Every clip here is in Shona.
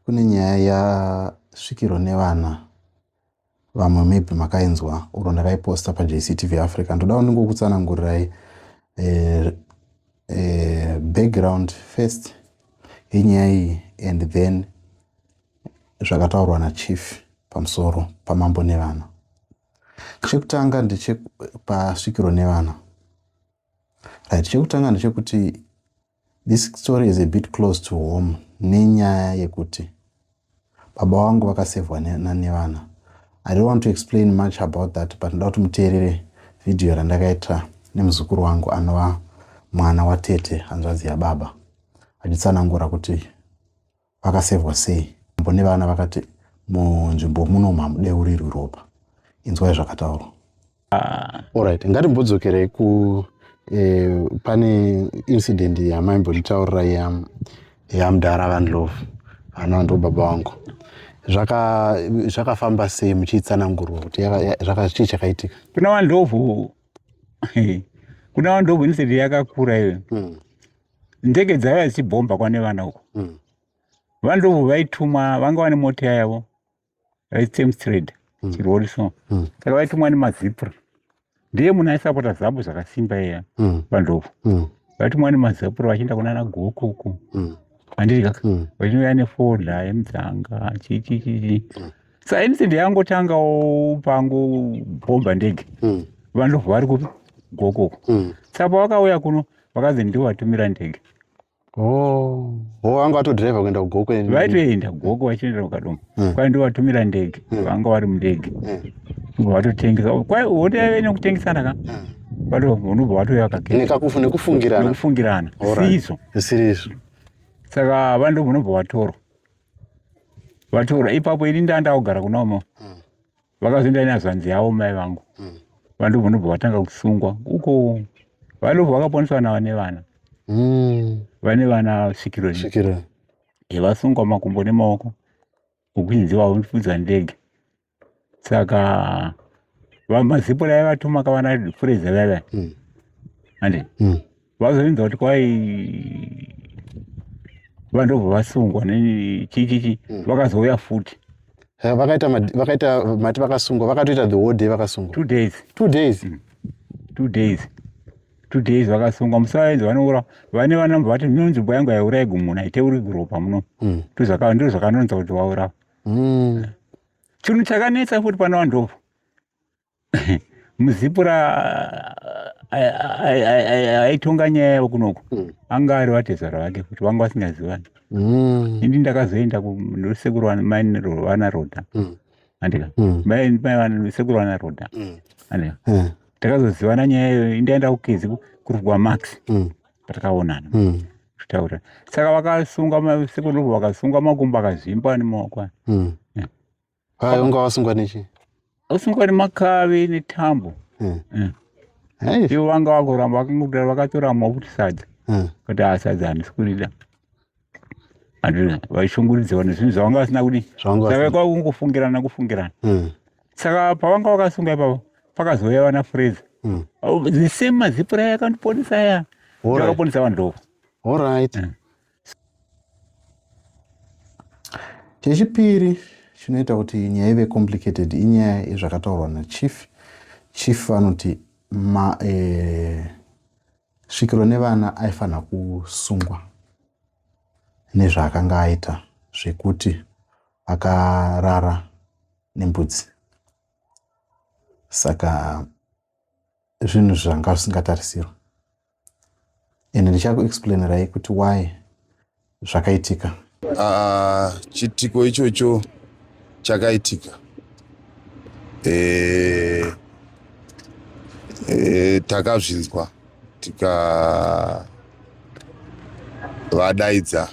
kune nyaya yasvikiro nevana vamwe maybe makainzwa uro ndakaiposta pajctv africa ndoda uningokutsanangurirai eh, eh, background first yenyaya iyi and then zvakataurwa nachief pamusoro pamambo nevana chekutanga ndechepasvikiro nevana right chekutanga ndechekuti This story is a bit close to home nenyaya yekuti baba wangu vakasevhwa nevana. I don't want to explain much about that but ndoda kuti muteerere vhidhiyo randakaita nemuzukuru wangu anova mwana watete hanzvadzi yababa achitsanangura kuti vakasevwa sei mambo nevana vakati munzvimbo muno mamudeurirwi ropa inzwai zvakataurwa ah. orit ngatimbodzokerei ku eh, pane incident yamaimbonditaurira yamdara vanlove anova ndo baba vangu zvakafamba sei muchiitsanangurwa kuti chii chakaitika kuna vandlovu kuna vandlovu incident yakakura iyo hmm. ndege dzaiva dzichibhomba kwane vana uko mm. vandobvu vaitumwa vanga vane mota yavo vaitsemstrade mm. chirori so mm. saka vaitumwa nemazipra ndiye munhu aisapota zabu zvakasimba iya mm. vandobvu mm. vaitumwa nemazipra vachienda kunana goko uko mm. andidya mm. vachinouya nefodha yemudzanga chichichichi mm. sa inside yangotangawo pangu bhomba ndege mm. vandobvu vari kupi goko uko mm. saka pavakauya kuno vakazi ndiwo vatumira ndege oh. ho oh, vanga vatodriva kuenda kugoko vaitoenda goko vachiendera kukadoma hmm. kwai ndiwo vatumira ndege hmm. vanga vari mundege hmm. vatotengesa kwai hotaive nekutengesana ka unobva watouya kakenekufungirana siizvo sirizvo saka vanhu ndobva unobva watorwa vatorwa ipapo ini ndaa ndakugara kunomo vakazoenda inazvanzi yavo mai vangu mm. vandobva ndobva vatanga kusungwa uko vadobva vakaponeswa na vane vana mm. vane vana svikiro yevasungwa makumbo nemaoko ukunzi vavo ndipfudzwa ndege saka vamazipura yavatumaka vana fureza vava mm. ande mm. vazoinza kuti kwai vandobva vasungwa nechichichi mm. vakazouya futi eh, vakaita vakaita mati vakasungwa vakatoita the whole day vakasungwa two days two days mm. two days two days vakasungwa musaenzi vanoura vane vanamba vati no nzvimbo yangu yaiurai gumuna iteuri guropa muno mm. ndizvo zvakanonza kuti waura mm. chinhu chakanetsa futi pana vandobva muzipura aitonga nyaya yavo kunoku hmm. anga ari vatezvara vake kuti vanga vasingazivani hmm. ini ndakazoenda kusekuru vana roda hmm. andika sekuru vana roda andika takazozivana nyaya iyoyo indaenda kukezi kurugwa max patakaonana kutaura saka vakasunga sekuru vakasunga makumbo akazvimba nemaoko Hai unga wasungwa nechi? Wasungwa nemakavi netambo. Hmm. Hmm. Hai. Ivo vanga vakuramba vakangobira vakatora mafuti sadza. Hmm. Kuti asadza handisi kurida. Andina vaishunguridza vanhu zvinhu zvavanga vasina kudi. Saka kwakungofungirana kufungirana. Hmm. Saka pavanga vakasunga ipapo pakazouya vana Fraser. Hmm. Oh, the same mazipura yakandiponesa ya. Ndakaponesa vanhu ndoko. All right. Hmm. chechipiri chinoita kuti nyaya ive complicated inyaya yezvakataurwa nachief chief vanoti ma eh, svikiro nevana aifanira kusungwa nezvaakanga aita zvekuti akarara nembudzi saka zvinhu zvanga zvisingatarisirwa and ndichakuexplainerai kuti why zvakaitika uh, chitiko ichocho chakaitika e, e, takazvinzwa tikavadaidza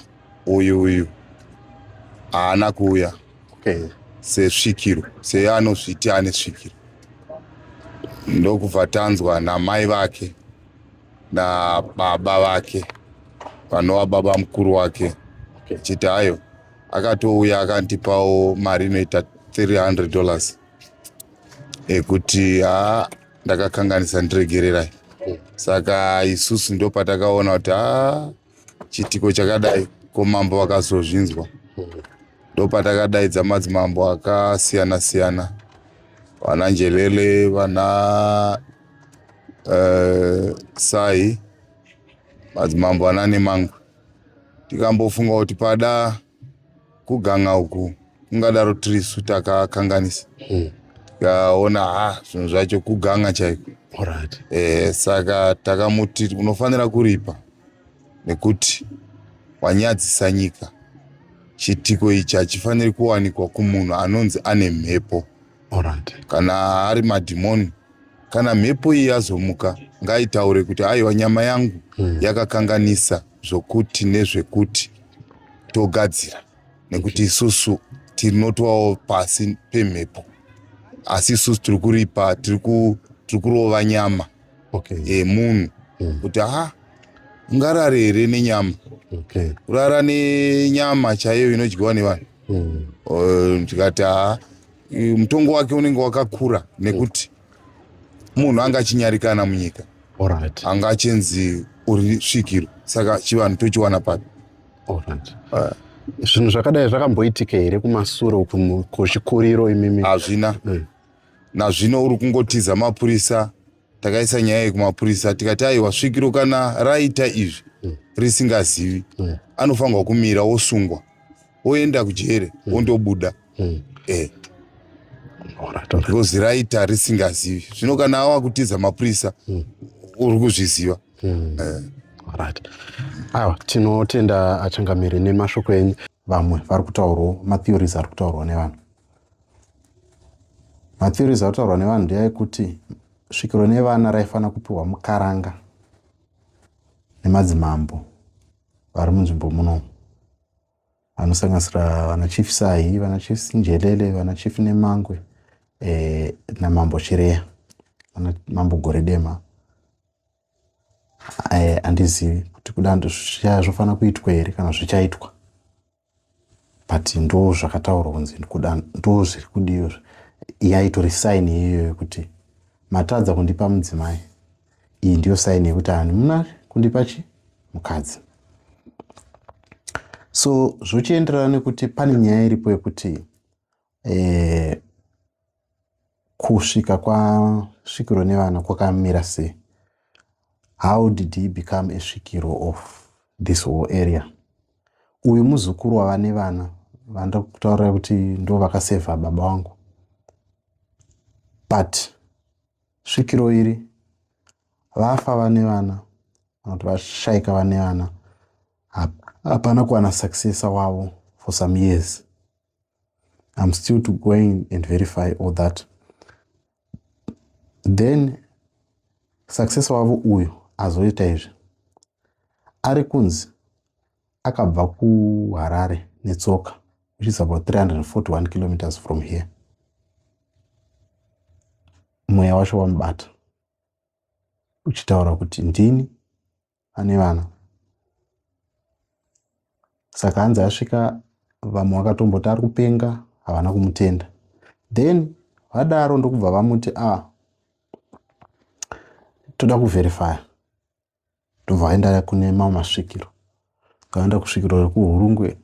uyu uyu haana kuuya okay. sesvikiro seanozviti ane svikiro ndokubva tanzwa namai vake nababa vake vanova baba mukuru wake achiti okay. ayo akatouya akandipawo mari inoita 300 dollars ekuti ha ndakakanganisa ndiregererai saka isusu ndopatakaona kuti ha chiitiko chakadai ko mambo vakazozvinzwa ndopatakadaidza madzimambo akasiyana siyana vana njelele vana uh, sai madzimambo ana nemangwe tikambofunga kuti pada kuganga uku kungadaro tirisu takakanganisa hmm. tikaona mm. ha zvinhu zvacho kuganga chaiko right. eh, saka takamuti unofanira kuripa nekuti wanyadzisa nyika chiitiko ichi hachifaniri kuwanikwa kumunhu anonzi ane mhepo right. kana ari madhimoni kana mhepo iyi yazomuka ngaitaure kuti aiwa nyama yangu mm. yakakanganisa zvokuti nezvekuti togadzira nekuti isusu tinotovawo pasi pemhepo asi isusu tiri kuripa tiri kurova nyama yemunhu mm. kuti ha ungarare here nenyama kurara nenyama chaiyo inodyiwa nevanhu mm. eh, tikati ha mutongo wake unenge wakakura nekuti munhu anga achinyarikana munyika right. anga achinzi uri svikiro saka chivanhu tochiwana papi right. uh, zvinhu zvakadai zvakamboitika here kumasure uku kuchikuriro imimi hazvina mm. nazvino uri kungotiza mapurisa takaisa nyaya iyi kumapurisa tikati aiwa svikiro kana raita izvi mm. risingazivi mm. anofanirwa kumira wosungwa woenda kujere wondobuda mm. mm. eh. because raita risingazivi zvino kana awa kutiza mapurisa mm. uri kuzviziva mm. eh. right aiwa tinotenda achangamiri nemashoko enyu vamwe vari kutaurwawo matheories ari kutaurwa nevanhu matheories ari kutaurwa nevanhu ndeaekuti svikiro nevana raifanira kupiwa mukaranga nemadzimambo vari munzvimbo munomu anosanganisira vana chief sahi vana chief njelele vana chief nemangwe eh, namambo chireya vana mambo goredema eh, andizivi kuti kudando zvichaya zvofanira kuitwa here kana zvichaitwa but ndo zvakataurwa kunzi ndo zviri kudiyo yaitori saini iyoyo kuti matadza kundipa mudzimai iyi ndiyo saini yekuti ani muna kundipa chi mukadzi so zvochienderana nekuti pane nyaya iripo yekuti eh, kusvika kwasvikiro nevana kwakamira sei how did he become a svikiro of this whole area uyu muzukuru wava nevana vanoda kutaurira kuti ndo vakasevha baba wangu but svikiro iri vafa vane vana kana kuti vashaika vane vana hapana kuwana successor wavo for some years i'm still to going and verify all that then successor wavo uyu azoita izvi ari kunzi akabva kuharare netsoka which is about 341 kilometers from here mweya wacho wamubata uchitaura kuti ndini ane vana saka anzi asvika vamwe vakatomboti ari kupenga havana kumutenda then vadaro ndokubva vamuti a ah, toda kuverifya ndobva vaenda kune mamwe masvikiro tikaenda kusvikiro rekuhurungwe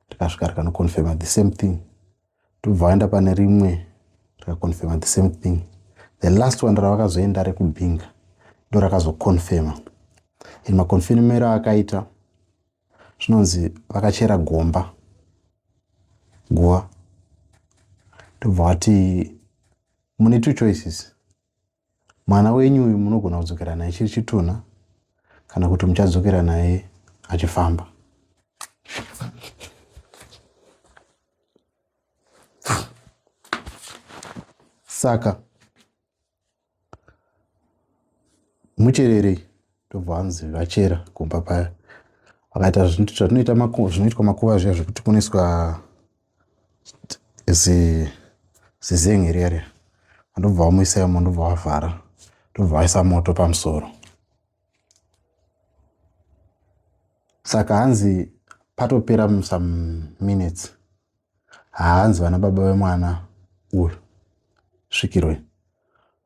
tikasvika rikanoconfirma the same thing tobva vaenda pane rimwe rikaconfirma the same thing the last one ravakazoenda rekubhinga ndo rakazoconfirma in maconfirmero akaita zvinonzi vakachera gomba guva tobva vati mune two choices Mwana wenyu uyu munogona kudzokera naye chiri chitunha kana kuti muchadzokera naye achifamba. Saka muchererei ndobva vanzi vachera kumba paya vakaita zvinoitwa makuva zviya zvekuti kunoiswa zizingi riya riya andobva wamuisa imo ndobva wavhara ndobva waisa moto pamusoro saka hanzi patopera some minutes haanzi vana baba vemwana uyu svikirwe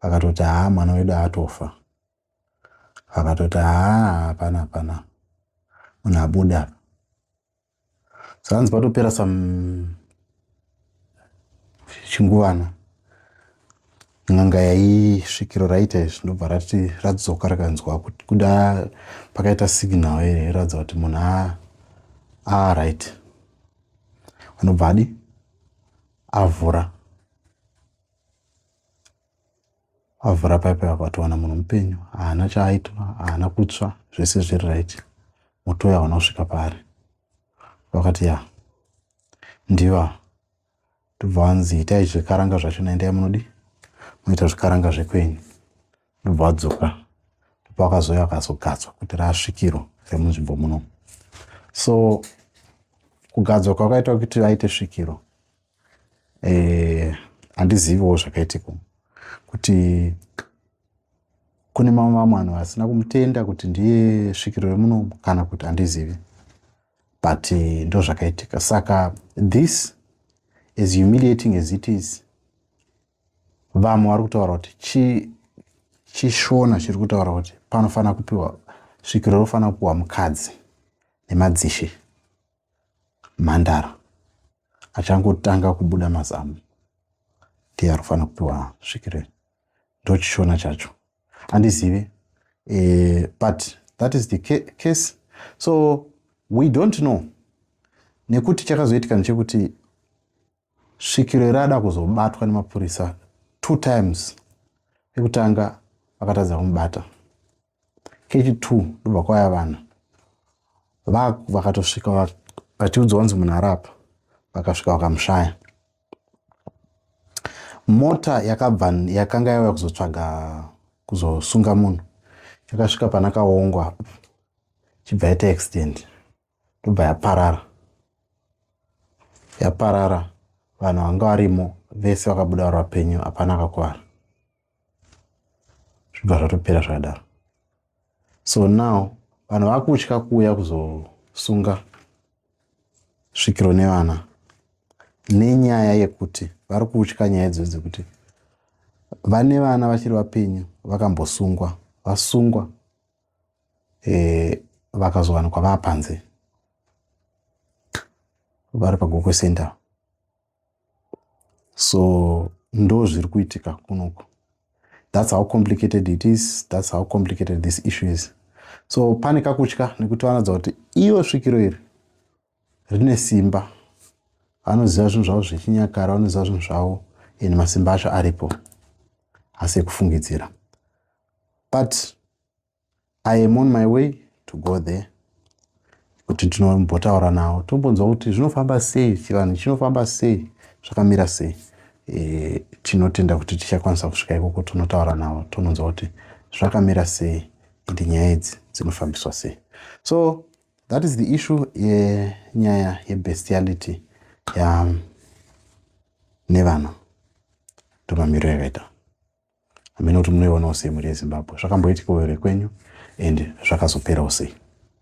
vakatoti haa mwana wedu atofa vakatoti haa hapana hapana munhu abuda apa zvanzi patopera some chinguvana n'anga yaisvikiro raita izvi ndobva rati radzoka rakanzwa kuda pakaita signal ere iratidza kuti munhu a a right anobva adi avhura avhura pipe apa towana munhu mupenyu haana chaaitwa haana kutsva zvese zviri right moto uya hauna kusvika paari vakati ya ndiva ndobva vanzi itai zvikaranga zvacho naendai munodi munoita zvikaranga zvekwenyu ndobva vadzoka ndipo akazouya akazogadzwa kuti rasvikiro remunzvimbo muno so kugadzwa kwakaitwa kuti vaite svikiro eh, handiziviwo zvakaitika kuti kune mamwe mamwe vanhu vasina kumutenda kuti ndiye svikiro remunomu kana kuti handizivi but eh, ndo zvakaitika saka this as humiliating as it is vamwe vari kutaura kuti chi chishona chiri kutaura kuti panofanira kupiwa svikiro rofanira kupiwa mukadzi nemadzishe mhandara achangotanga kubuda mazamu ndiye ari kufanira kupiwa svikirei ndochishona chacho andizive e, eh, but that is the case so we don't know nekuti chakazoitika ndechekuti svikiro irada kuzobatwa nemapurisa two times ekutanga vakatadza kumubata kechi two ndobva kwaya vanhu vaku vakatosvika vachiudzwa vanzi munhu arapa vakasvika vakamushaya mota yakabva yakanga yauya kuzotsvaga kuzosunga munhu yakasvika pana kaongwa chibva yaita accident ndobva yaparara yaparara vanhu vanga varimo vese vakabuda vari vapenyu hapana akakuvara zvibva zvatopera zvakadaro so now vanhu vakutya kuuya kuzosunga svikiro nevana nenyaya yekuti vari kutya nyaya idzo dzekuti vane vana vachiri vapenyu vakambosungwa vasungwa e, vakazowanikwa vaa panze vari pagokwe center so ndo zviri kuitika kunoku thats how complicated it is thats how complicated this issue is so pane kakutya nekuti vanoudza kuti iyo svikiro iri rine simba vanoziva zvinhu zvavo zvechinyakara vanoziva zvinhu zvavo and masimba acho aripo asi ekufungidzira but i am on my way to go there kuti ndinombotaura nawo tombonzwa kuti zvinofamba sei chivanhu chinofamba sei zvakamira sei e, tinotenda kuti tichakwanisa kusvika ikoko tonotaura nawo tononzwa kuti zvakamira sei ende nyaya idzi dzinofambiswa sei so that is the issue yenyaya yebestiality ya nevana ndomamiriro yakaita hameno kuti munoionawo sei mhuri yezimbabwe zvakamboitikawo here kwenyu and zvakazoperawo sei